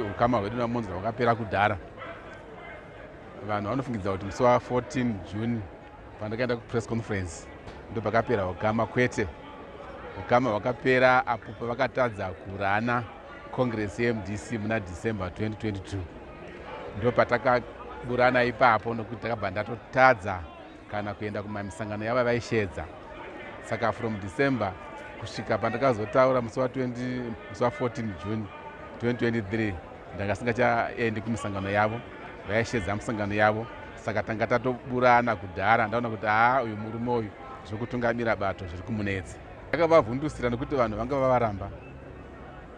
Ukama hwedu naMonza hwakapera kudhara. Vanhu vanofungidza kuti musi wa 14 June pandakaenda kupress conference ndo pakapera ukama kwete. Ukama hwakapera apo pavakatadza kurana Congress yeMDC muna December 2022. Ndo patakaburana ipapo nokuti takabva ndatotadza kana kuenda kumamisangano yava vaisheedza saka from december kusvika pandakazotaura musi wa14 june 2023 ndanga singachaendi kumisangano yavo vaisheedza misangano yavo saka tanga tatoburana kudhara ndaona kuti haa uyu murume uyu zvekutungamira bato zviri kumunetsa akavavhundusira nekuti vanhu vanga vavaramba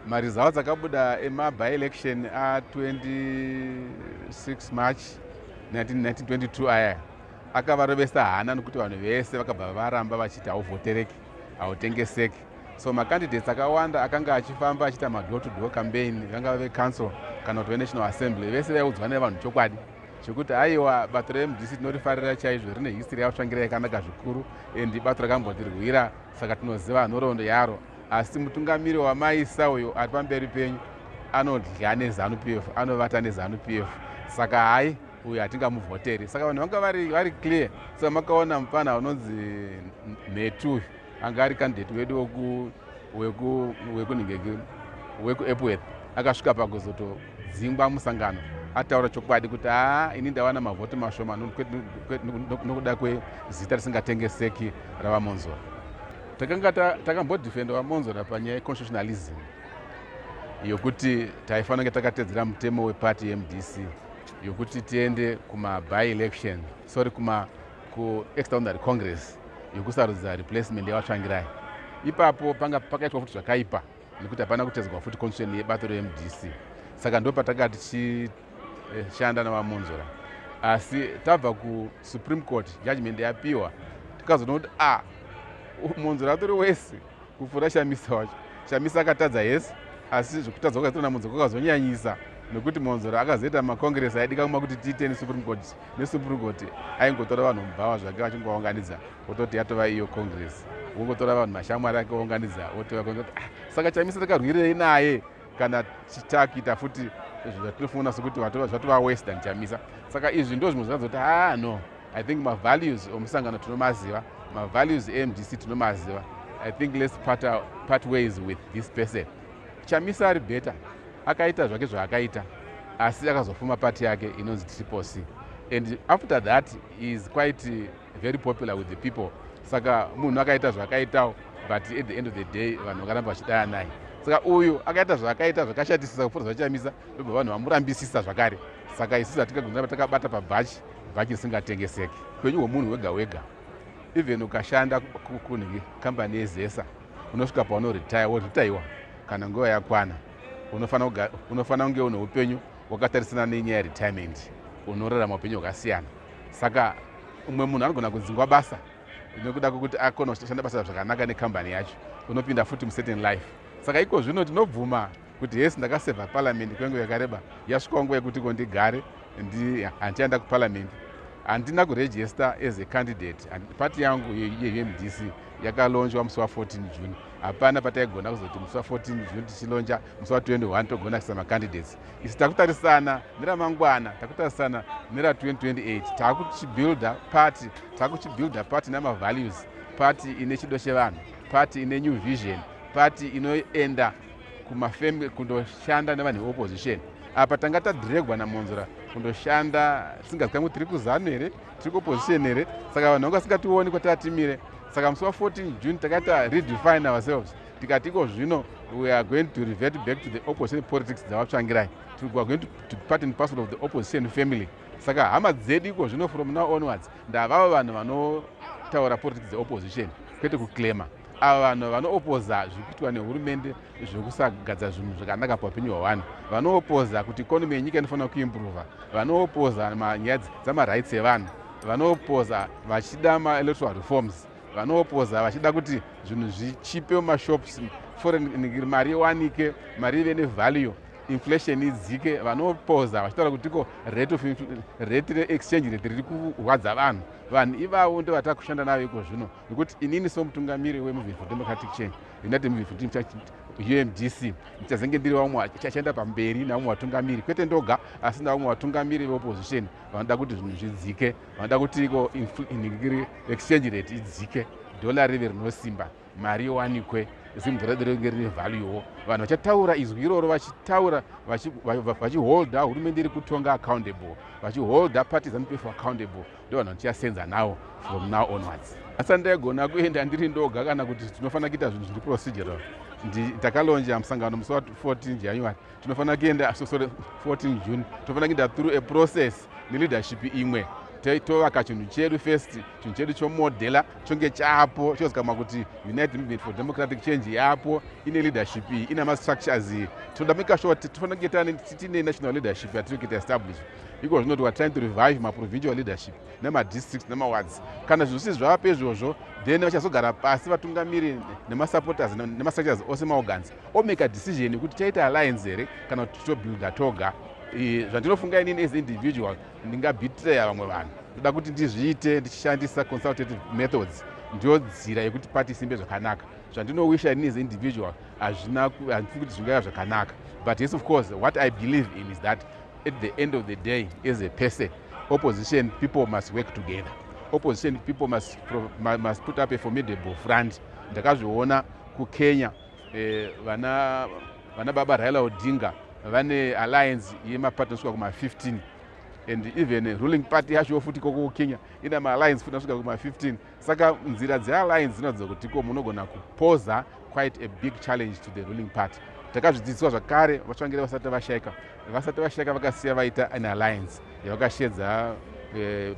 Maresults akabuda ema by election a 26 March 1922 aya akavarovesa hana nokuti vanhu vese vakabva varamba vachiti hauvhotereki hautengeseki so macandidates akawanda akanga achifamba achiita madoor to door campaign vangava vecouncil kana kuti venational assembly vese vaiudzwa nevanhu chokwadi chekuti aiwa bato remdc tinorifarira chaizvo rine history yavatsvangira yakanaka zvikuru and bato rakambotirwira saka tinoziva nhoroondo yaro Asi mutungamiri wamaisa uyo ari pamberi penyu anodya nezanu p f anovata nezanu p f saka hayi uyo hatingamuvhoteri saka vanhu vanga vari clear saka makaona mupfana unonzi mhetu uyu anga ari kandidate wedu wekunhingeki wekuepworth akasvika pakuzotodzingwa musangano ataura chokwadi kuti haa ini ndawana mavhoti mashoma nokuda kwezita risingatengeseki ravamonzora takanga takambodefenda vamonzora panyaya yeconstitutionalism yokuti taifanira takatedzera mutemo wepati yemdc yokuti tiende kumaby election sorry kuma kuextraordinary congress yokusarudza replacement yevatsvangirai ipapo panga pakaitwa futi zvakaipa nekuti hapana kutedzwa futi constitution yebato remdc saka ndo patanga tichishanda eh, navamunzora asi tabva kusupreme court judgment yapiwa tikazoona kuti a ah, munzora atori wese kupfuura shamisa wacho shamisa akatadza hesi asi zvekutadza kwakaitwa namunzora kwakazonyanyisa nekuti monzora akazoita makongress aidika kuma kuti tiite nesupreme court nesupreme court aingotora vanhu mubhawa zvake vachingovaunganidza Wototi yatova iyo congress. Wongotora vanhu mashamwari ake ounganidza wotova congress. Ah, saka chamisa takarwirei naye kana takuita futi zvatinofunga sokuti zvatova worse than chamisa. Saka izvi ndo zvimwe zvakazoti ah no. I think ma values omusangano tinomaziva. Ma values eMDC tinomaziva. I think let's part, our, part ways with this person. Chamisa ari better. Akaita zvake zvaakaita. Asi akazofuma party yake inonzi Triple C. And after that is quite very popular with the people saka munhu akaita zvakaitawo but at the end of the day vanhu vakaramba vachidaya naye saka uyu akaita zvaakaita zvakashatisisa kupfuura zvachamisa ndobva vanhu vamurambisisa zvakare saka isusu hatingagonzaa takabata pabhachi bhachi risingatengeseki upenyu hwemunhu wega wega even ukashanda kunhingi kambani yezesa unosvika paunoretire woretaiwa kana nguva yakwana unofanira kunge une upenyu wakatarisana nenyaya yeretirement unorarama upenyu hwakasiyana saka umwe munhu anogona kudzingwa basa nekuda kwekuti akona kushanda basa zvakanaka nekambani yacho unopinda futi mucertain life saka iko zvino tinobvuma kuti hesi ndakasevha paramende kwenguva yakareba yasvikawo nguva yekuti ko ndigare handichaenda kuparamende handina kuregista as a candidate pati yangu yemdc yakalonjwa musi wa 14 june hapana pataigona kuzoti musi wa14 june tichilonja musi wa21 togona kuisa macandidates isi takutarisana neramangwana takutarisana nera 2028 takuchibuilda party takuchibuilda party nemavalues party ine chido chevanhu party ine new vision party inoenda kumafamily kundoshanda nevanhu veopposition apa tanga tadhiregwa namonzora kundoshanda tisingazikangu tiri kuzanu here tiri kuopposition here saka vanhu vangu vasingationi kwataatimire saka musi wa 14 june takaita redefine ourselves tikati iko zvino we are going to revert back to the opposition politics dzavatsvangirai we are going to, to part and parcel of the opposition family saka hama dzedu iko zvino from now onwards ndavavo vanhu vanotaura politics dzeopposition kwete kuclaima Ava vanhu vanoopoza zviri kuitwa nehurumende zvekusagadza zvinhu zvakanaka paupenyu hwevanhu. Vanoopoza kuti ikonomi yenyika inofanira kuimburuva. Vanoopoza nyaya dzamarights evanhu. Vanoopoza vachida maelectoral reforms. Vanoopoza vachida kuti zvinhu zvichipe mumashops, foreign mari iwanike, mari ive nevalue inflation idzike vanopoza vachitaura kuti ko rate of rate reexchange rate riri kurwadza vanhu vanhu ivavo ndovatava kushanda navo iko zvino nekuti inini somutungamiri wemovement for democratic change united movement for democratic change umdc ndichazenge ndiri vamwe achaenda pamberi navamwe vatungamiri kwete ndoga asi navamwe vatungamiri veopposition vanoda kuti zvinhu zvidzike vanoda kuti iko exchange rate idzike dhola rive rinosimba mari yowanikwe zimbudzi redu ringe rine valuewo vanhu vachataura izwi iroro vachitaura vachiholda hurumende iri kutonga accountable vachiholda parties anopefo accountable ndivanhu vandichasenza nawo from now onwards asi andaigona kuenda ndiri ndoga kana kuti tinofanira kuita zvinhu zviri procedural takalonja musangano musi wa 14 january tinofanira kuenda so sorry 14 june tinofanira kuenda through a process neleadership imwe tovaka chinhu chedu first chinhu chedu chomodhela chonge chapo chozikama kuti united movement for democratic change yapo ine leadership iyi ina mastructures iyi tinoda maker sure kuti tifanira kunge tine national leadership yatiri kuita establish iko zvino we are trying to revive maprovincial leadership nemadistricts nemawards kana zvinhu zvisi zvava pezvozvo then vachazogara pasi vatungamiri nemasupporters nemastructures ose maorgans omaker decision yekuti chaita alliance here kana kuti tichobuilda toga zvandinofunga inini as individual ndingabitreya vamwe vanhu ndoda kuti ndizviite ndichishandisa consultative methods ndiyo nzira yekuti pati isimbe zvakanaka zvandinowisha inini as individual hazvina handifuni kuti zvingava zvakanaka but yes of course what i believe in is that At the end of the day as a person opposition people must work together opposition people must, must put up a formidable front ndakazviona kukenya eh, vana, vana baba raila odinga vane alliance yemaparty anosvika kuma-15 and even ruling party yacho futi koko kukenya ina maalliance futi anosvika kuma-15 Saka nzira dzealliance dzinoratidza kuti ko munogona kupoza quite a big challenge to the ruling party. Takazvidzidziswa zvakare vatsvangire vasati vashaika. Vasati vashaika vakasiya vaita an alliance yavakashedza eh,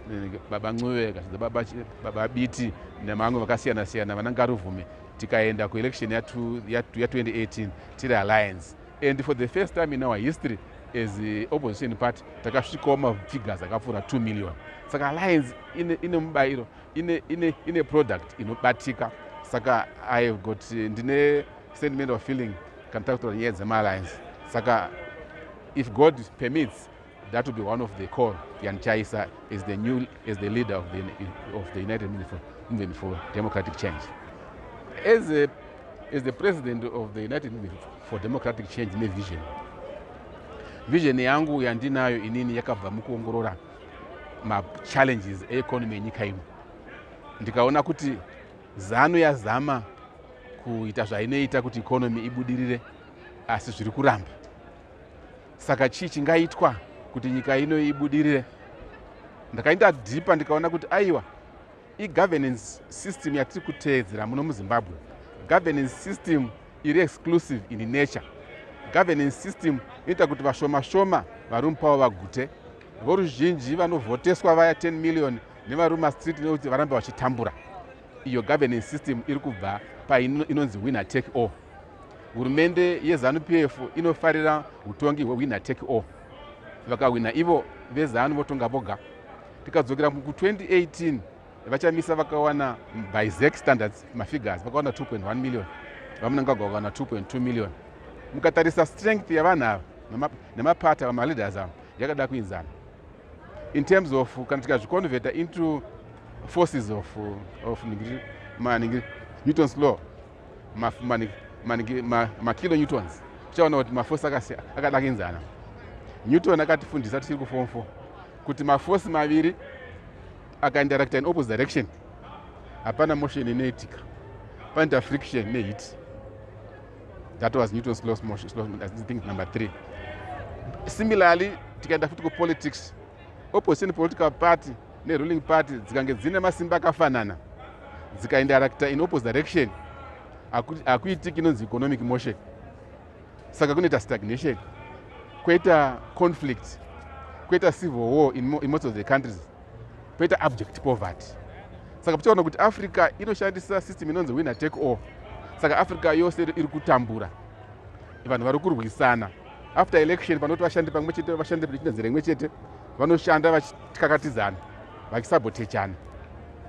baba Ncube, vakashedza baba, baba Biti nemamwe vakasiyana siyana vana Ngaruvhume tikaenda kuelection ya, ya, ya 2018 tiri alliance and for the first time in our history as opposition party takasvikawo mafigures akapfuura 2 million saka alliance ine mubayiro ine product inobatika saka i have got eh, ndine sentiment of feeling kana takutaura nyaya dzemaalliance saka if god permits That would be one of the core Jan Chaisa is the new is the leader of the of the United Movement for, Movement for Democratic Change. As a as the president of the United Movement for Democratic Change ne vision. Vision yangu yandinayo inini yakabva mukuongorora ma challenges e economy yenyika ino. Ndikaona kuti zanu yazama kuita zvainoita kuti economy ibudirire asi zviri kuramba saka chii chingaitwa kuti nyika ino ibudirire ndakaita dhipa ndikaona kuti aiwa igovernance system yatiri kuteedzera muno muzimbabwe governance system iri exclusive in nature governance system inoita kuti vashoma shoma varume pavo vagute voruzhinji vanovhoteswa vaya 10 million nevaruma street nekuti varambe vachitambura iyo governance system iri kubva painonzi winner take all Hurumende yeZanu PF inofarira hutongi hwewinner take all. Vakahwina ivo veZanu votonga voga. Tikadzokera ku 2018 vachamisa vakawana by zac standards mafigures vakawana 2.1 million vamunangagwa vakawana 2.2 million mukatarisa strength yavanhu ava nemapata vamaleaders ava yakada kuinzana in terms of kana tikazviconverta into forces of, of ningiri, ma, ningiri, newton's law makilonewtons tichaona kuti mafosi akadakinzana newton akatifundisa tichiri kufom four kuti mafosi maviri akainteracta in opposite direction hapana motion inoitika panoita friction neheat that was newton's law motion think number three similarly tikaenda futi kupolitics opposition political party neruling party dzikange dzine masimba akafanana dzikaindarakta in opposite direction hakuitiki inonzi economic motion saka kunoita stagnation kwoita conflict kwoita civil war in, in most of the countries kwoita abject poverty saka tichaona kuti africa inoshandisa system inonzi winner take all saka africa yose iri kutambura vanhu vari kurwisana after election panoti vashandi pamwe chete vashandi vechine zera imwe chete vanoshanda vachikakatidzana vachisabotechana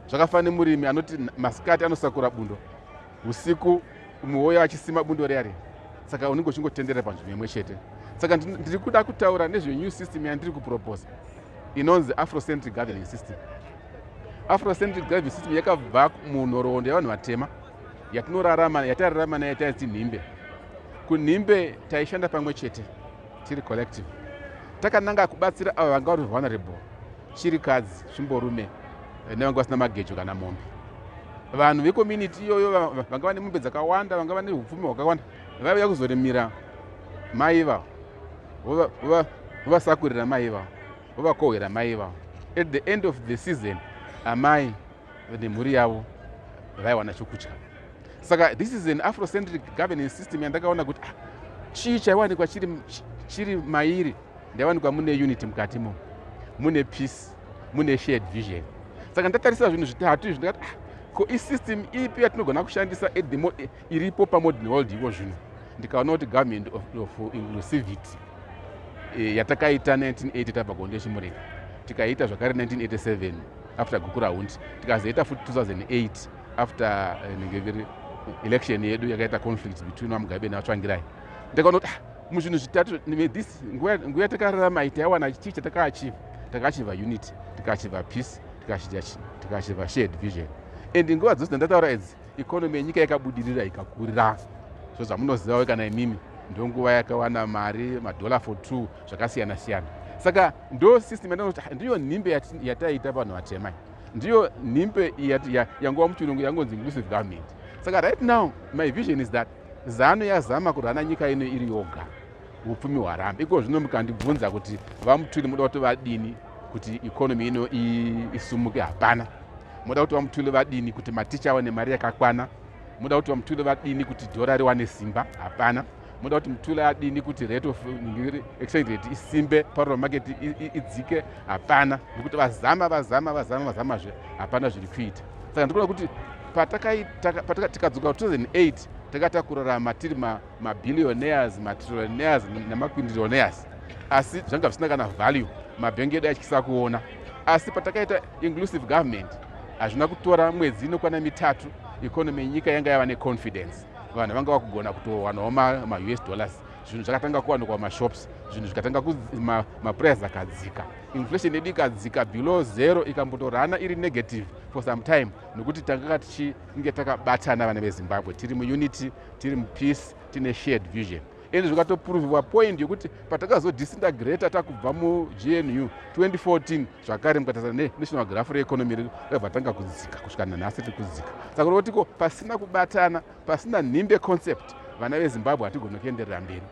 zvakafana nemurimi anoti masikati anosakura bundo usiku muwoyo achisima bundo reya riya saka unenge uchingotenderera panzvimbo imwe chete saka ndiri kuda kutaura nezvenew system yandiri kuproposa inonzi afrocentric governing system afrocentric governing system yakabva munhoroondo yevanhu vatema yatinorarama yatararama nayo taiti nhimbe kunhimbe taishanda pamwe chete tiri collective takananga kubatsira avo vanga vari vulnerable chirikadzi zvimborume eh, nevanga vasina magejo kana mombe vanhu vecommunity iyoyo vanga vane mombe dzakawanda vanga vane upfumi hwakawanda vaiuya kuzorimira mai ivavo vovasakurira mai ivavo vovakohwera mai ivavo at the end of the season amai nemhuri yavo vaiwana chokudya saka this is an afrocentric governance system yandakaona kuti ah, chii chaiwanikwa chiri, chiri mairi ndaiwanikwa mune unity mukati mo mune peace mune shared vision saka ndatarisa zvinhu zvitatu izvi ndikati ah, ko isystem ipi yatinogona kushandisa edimo e, iripo pamodern world iko zvino ndikaona kuti government of, of inclusivity e, yatakaita 1980 tabva kuondechimurenga tikaiita zvakare 1987 after gukura hundi tikazoita futi 2008 after eh, nengeviri election yedu yakaita conflict between vamugabe nevatsvangirai ndakaona kuti ah, muzvinhu zvitatu this nguva yatakararama ita yawana chii chatakaachiva takaachiva unity tikaachiva peace tikaachiva shared vision and nguva dzose dzandataura idzi economy yenyika yakabudirira ikakurira so zvamunozivawo kana imimi ndonguva yakawana mari madollar for two zvakasiyana siyana saka ndo system yandinoti ndiyo nhimbe yataita vanhu vatema ndiyo nhimbe yangova muchirungu yangonzi inclusive government saka right now my vision is that zanu yazama kurana nyika ino iri yoga upfumi hwarambe iko zvino mukandibvunza kuti vamutuli muda kuti vadini kuti economy ino isumuke hapana muda kuti vamutuli vadini kuti maticha awane mari yakakwana muda kuti vamutuli vadini kuti dhora riwane simba hapana moda kuti mutula adini kuti rate of exchange rate isimbe parol market idzike hapana nokuti vazama vazama vazama vazamazve hapana zviri kuita saka ndikuona kuti patakadzoka 2008 takata kurarama tiri mabillionaires matrillionaires nemaquindrillionaires asi zvanga zvisina kana value mabhengi edu atyisa kuona asi patakaita inclusive government hazvina kutora mwedzi inokwana mitatu economy yenyika yanga yava neconfidence vanhu vanga vakugona kutowanawo maus dollars zvinhu zvakatanga kuwanikwa mumashops zvinhu zvikatanga maprice akadzika inflation yedu ikadzika below zero ikambotorana iri negative for some time nokuti tanganga tichinge takabatana vana vezimbabwe tiri muunity tiri mupeace tine shared vision and zvikatopuruviwa point yekuti patakazodisintegrata takubva mugnu 2014 zvakare mukatarisa nenational grafu reekonomi redu rabva tanga kudzika kusvika nanhasi tiri kudzika saka uri kutiko pasina kubatana pasina nhimbe concept vana vezimbabwe hatigoni kuenderera mberi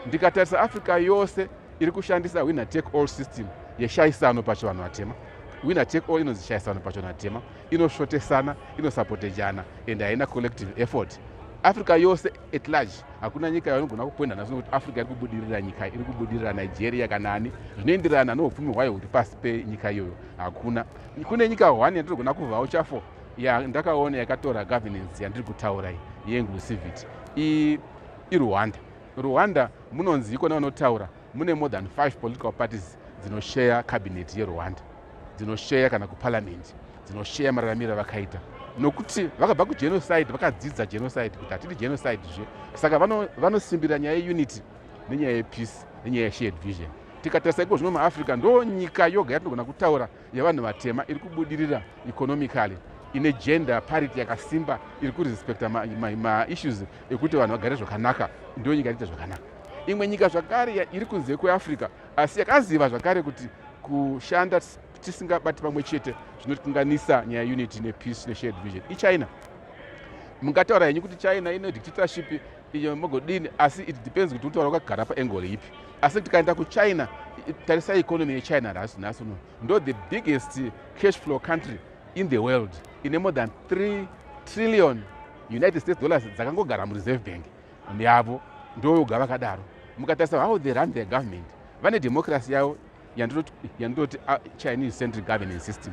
ndikatarisa africa yose iri kushandisa winner take all system yeshaisano pacho vanhu vatema winner take all inonzi shaisano pacho vanhu vatema inosvotesana inosapotejana and haina collective effort africa yose at large hakuna nyika yavanogona kupoinda nhasi nokuti africa iri kubudirira nyika iri kubudirira nigeria kana ani zvinoenderana noupfumi hwayo huri pasi penyika iyoyo hakuna kune nyika one yatinogona kuvhawo chafo yandakaona yakatora governance yandiri kutaura iyi yeinclusivity irwanda rwanda munonzi ikona vanotaura mune more than five political parties dzinosheya cabinet yerwanda dzinosheya kana kuparliament dzinosheya mararamiro avakaita nokuti vakabva kugenocide vakadzidza genocide kuti hatidi genocide zve saka vanosimbira nyaya yeunity nenyaya yepeace nenyaya yeshared vision tikatarisa iko zvino muafrica ndo nyika yoga yatinogona kutaura yevanhu vatema iri kubudirira economically ine gender parity yakasimba iri kurespecta maissues ma, ma ekuti vanhu vagare zvakanaka ndo nyika iriita zvakanaka imwe nyika zvakare iri kunze kweafrica Asi yakaziva zvakare kuti kushanda tisingabati pamwe chete zvinotikanganisa nyaya unity nepeace neshared vision ichina mungataura henyu kuti china ine dictatorship iyo mogodini asi it depends kuti utaura wakagara paengole ipi asi tikaenda kuchina tarisa economy yechina nhasi nhasi uno ndo the biggest cash flow country in the world ine more than 3 trillion united states dollars dzakangogara mureserve bank yavo ndoyoga vakadaro mukatarisa how they run their government vane democracy yavo yandinoti ah, chinese central governance system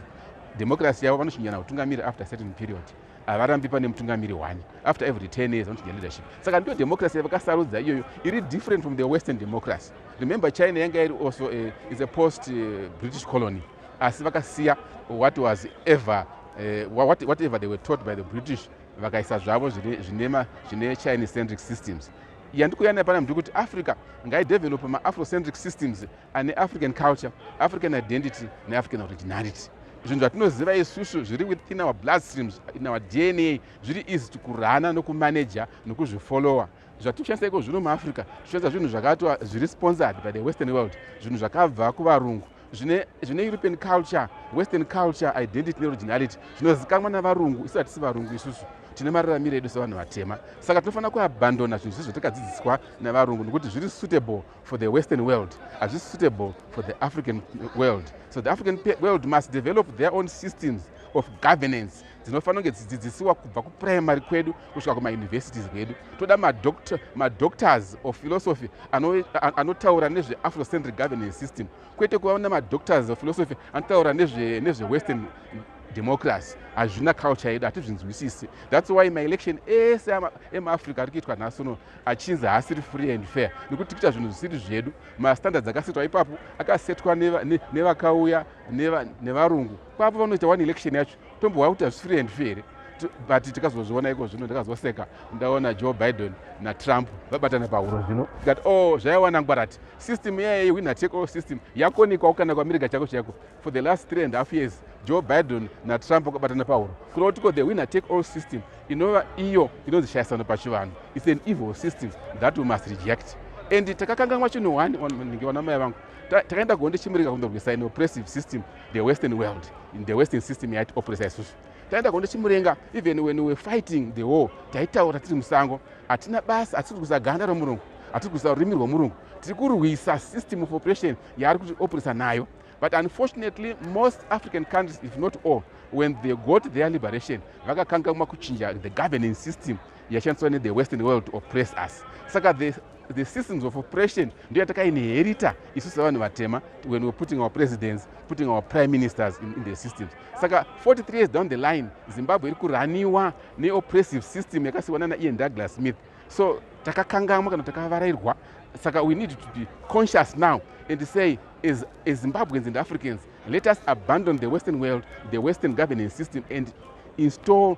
democracy yavo vanochinjana kutungamiri after certain period havarambi pane mutungamiri one after every 10 years vanochinja leadership saka ndiyo democracy yavakasarudza iyoyo iri different from the western democracy remember china yanga iri also uh, eh, is a post uh, british colony asi vakasiya what was ever uh, what, whatever they were taught by the british vakaisa zvavo zvinema zvine chine centric systems yandikuya nayo pana mndu kuti africa ngaidevelope maafrocentric systems ane african culture african identity neafrican originality zvinhu zvatinoziva isusu zviri within our blood streams in our dna zviri easy tikurana nokumanaja nokuzvifollowa zvatikushandisa iko zvino muafrica tichishandisa zvinhu zvakatwa zviri sponsored by the western world zvinhu zvakabva kuvarungu zvine zvine european culture western culture identity neoriginality zvinozikanwa navarungu isu hatisi varungu isusu tine mararamiro edu sevanhu vatema saka tinofanira kuabandona zvinhu zvizvo takadzidziswa nevarungu nokuti zviri suitable for the western world hazvisi suitable for the african world so the african world must develop their own systems of governance dzinofanira kunge dzidzidzisiwa kubva kuprimary kwedu kusvika kumauniversities kwedu toda madoctors of philosophy anotaura nezveafrocentric governance system kwete kuva nemadoctors of philosophy anotaura nezvewestern democracy hazvina culture yedu hatizvinzwisisi thats why maelection ese emaafrica ari kuitwa nhasi uno achinzi haasiri free and fair nekuti kuita zvinhu zvisiri zvedu mastandards akasetwa ipapo akasetwa nevakauya nevarungu kwapo vanoita one election yacho tombouya kuti hazvisi free and fair here but tikazozviona iko zvino ndikazoseka ndaona joe biden natrump vabatana pahuro zvino that o oh, zvaiwana ngwarati system iyaye yewinner take all system yakonikwawo kana kuamerica chako chaiko for the last three and half years joe biden natrump vakabatana pahuro kuda kutiko the winner take all system inova iyo inonzi shayisano pachivanhu its an evil system that we must reject and takakanganwa chinhu one ndingeona mai vangu takaenda kuhonde chimurika kundorwisa an oppressive system the western world in the western system yaiti opresa isusu taenda kondo chimurenga even when we fighting the war taitaura tiri musango hatina basa hatisi kurwisa ganda romurungu hatisi kurwisa rurimi rwomurungu tiri kurwisa system of operation yaari kuti opresa nayo but unfortunately most african countries if not all when they got their liberation vakakanga makuchinja the governing system yashandiswa nethe western world to oppress us saka the the systems of oppression ndiyo yatakainherita isu sevanhu vatema when we're putting our presidents putting our prime ministers in, in the systems saka 43 years down the line zimbabwe iri kuraniwa neoppressive system yakasiwana naian douglas smith so takakangamwa kana takavarairwa saka we need to be conscious now and say as, as zimbabweans and africans let us abandon the western world the western governance system and install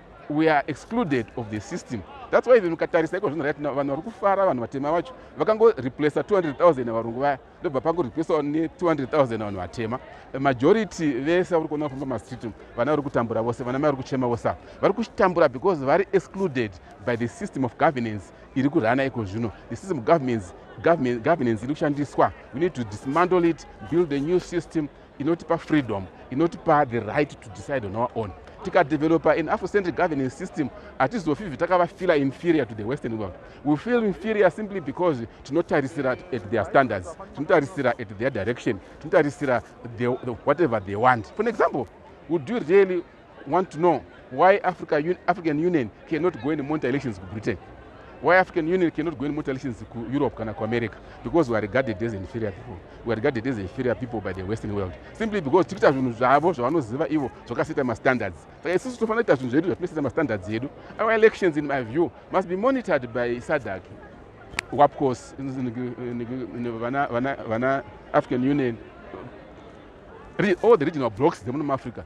we are excluded of the system thats why even ukatarisa iko zvino rat vanhu vari kufara vanhu vatema vacho vakangoreplace 200000 yavarungu vaya ndobva pangoreplacewa ne200000 vanhu vatema majority vese vari kuona kufamba mastreet vana vari kutambura vose vana mai vari kuchema vose ava vari kutambura because vari excluded by the system of governance iri kurana iko zvino the system of governance governance iri kushandiswa we need to dismantle it build a new system inotipa freedom inotipa the right to decide on our own tikadevelopa an afrocentric governance system hatizofi bvi takavafeela inferior to the western world we feel inferior simply because tinotarisira at their standards tinotarisira at their direction tinotarisira whatever they want for an example would you really want to know why Africa, Un African Union cannot go and monitor elections to Britain. Why African Union cannot go and monitor elections to Europe kana ku America? Because we are regarded as inferior people. We are regarded as inferior people by the Western world. Simply because tiri kuita zvinhu zvavo zvavanoziva ivo zvakaseta ma standards. Saka isusu tofanira kuita zvinhu zvedu zvatinoseta ma standards edu. Our elections in my view must be monitored by SADC. WAPCOS, vana African Union, all the regional blocks dzemuno muAfrica.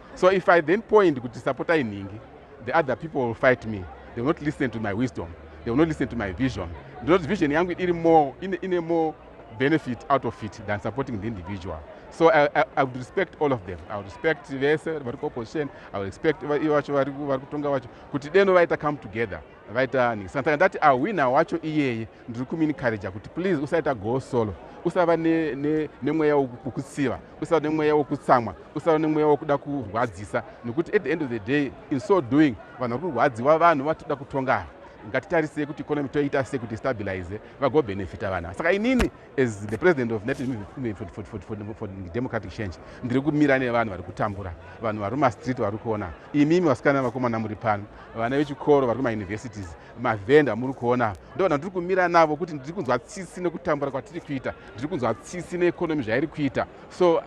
so if i then point kuti sapotai nhingi the other people will fight me they will not listen to my wisdom they will not listen to my vision ndinoti vision yangu iri more ine, ine more benefit out of it than supporting the individual so i, I, I would respect all of them i would respect vese vari kuopposition i would respect ivo vacho vari kutonga vacho kuti deno vaita come together vaita nhingi santanga ndati awina wacho iyeye ndiri kuminikharija kuti please usaita go solo usava nemweya wokutsiva usava nemweya wokutsamwa usava nemweya wokuda kurwadzisa nokuti at the end of the day in so doing vanhu vari kurwadziwa vanhu vatoda kutonga ngatitarisei kuti economy toita sei kuti stabilize vagobhenefita vana saka inini as the president of united movement for, for, for, for, for democratic change ndiri kumira nevanhu vari kutambura vanhu vari mumastreet vari kuona imimi vasikana vakomana muri pano vana vechikoro vari kumauniversities mavhenda muri kuona ndovanhu vandiri kumira navo kuti ndiri kunzwa tsitsi nekutambura kwatiri kuita ndiri kunzwa tsitsi neekonomi zvairi kuita so,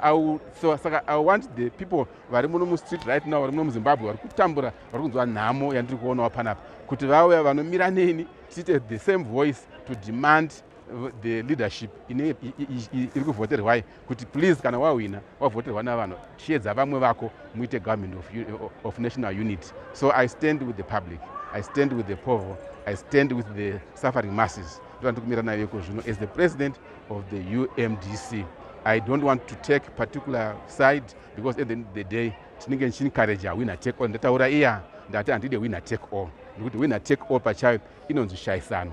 so saka i want the people vari muno mustreet right now vari muno muzimbabwe vari kutambura vari kunzwa nhamo yandiri kuonawo panapa kuti vauya vanomira neni tiite the same voice to demand the leadership iri kuvhoterwai kuti please kana wahwina wavhoterwa navanhu chiedza vamwe vako muite government of, of national unity so i stand with the public i stand with the povo i stand with the suffering masses ndoandikumira nayo iko zvino as the president of the umdc i don't want to take particular side because at the end of the day tinenge ndichiencourage awina take all ndataura iya ndati handide winner take all nekuti winner take all pachayo inonzi shaisano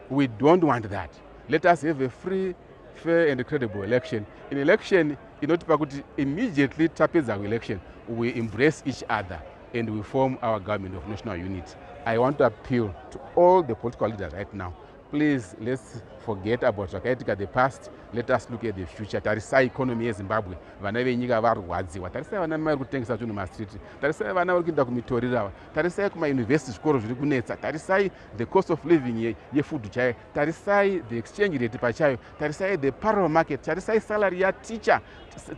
We don't want that. Let us have a free, fair and credible election. In election, inotipa kuti immediately tapedza kuelection, we embrace each other and we form our government of national unity. I want to appeal to all the political leaders right now. Please, let's forget about zvakaitika the past. Let us look at the future. Tarisai economy yeZimbabwe. Vana venyika varwadziwa. Tarisai vana mai kutengesa zvinhu mumastreet. Tarisai vana vari kuenda kumitorirawa. Tarisai kumauniversity zvikoro zviri kunetsa. Tarisai the cost of living ye, yefood chayo tarisai the exchange rate pachayo tarisai the parallel market tarisai salary yateacher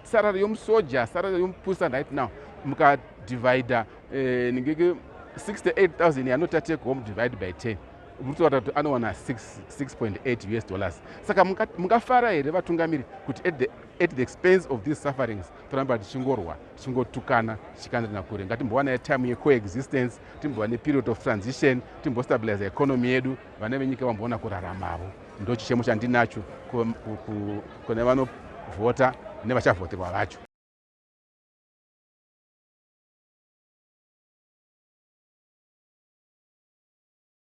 salary yomusoja salary yomupusa right now mukadivida eh, ningeke 68000 yanoti atake home divide by 10 mutoata kuti anowana 6.8 us dollars saka mungafara here vatungamiri kuti at the, at the expense of these sufferings toramba tichingorwa tichingotukana tichikandirina kure ngatimbowana time yecoexistence timbova neperiod of transition timbostabiliza economy yedu vana venyika vamboona kuraramavo ndochichemo chandinacho kune vanovhota nevachavhoterwa vacho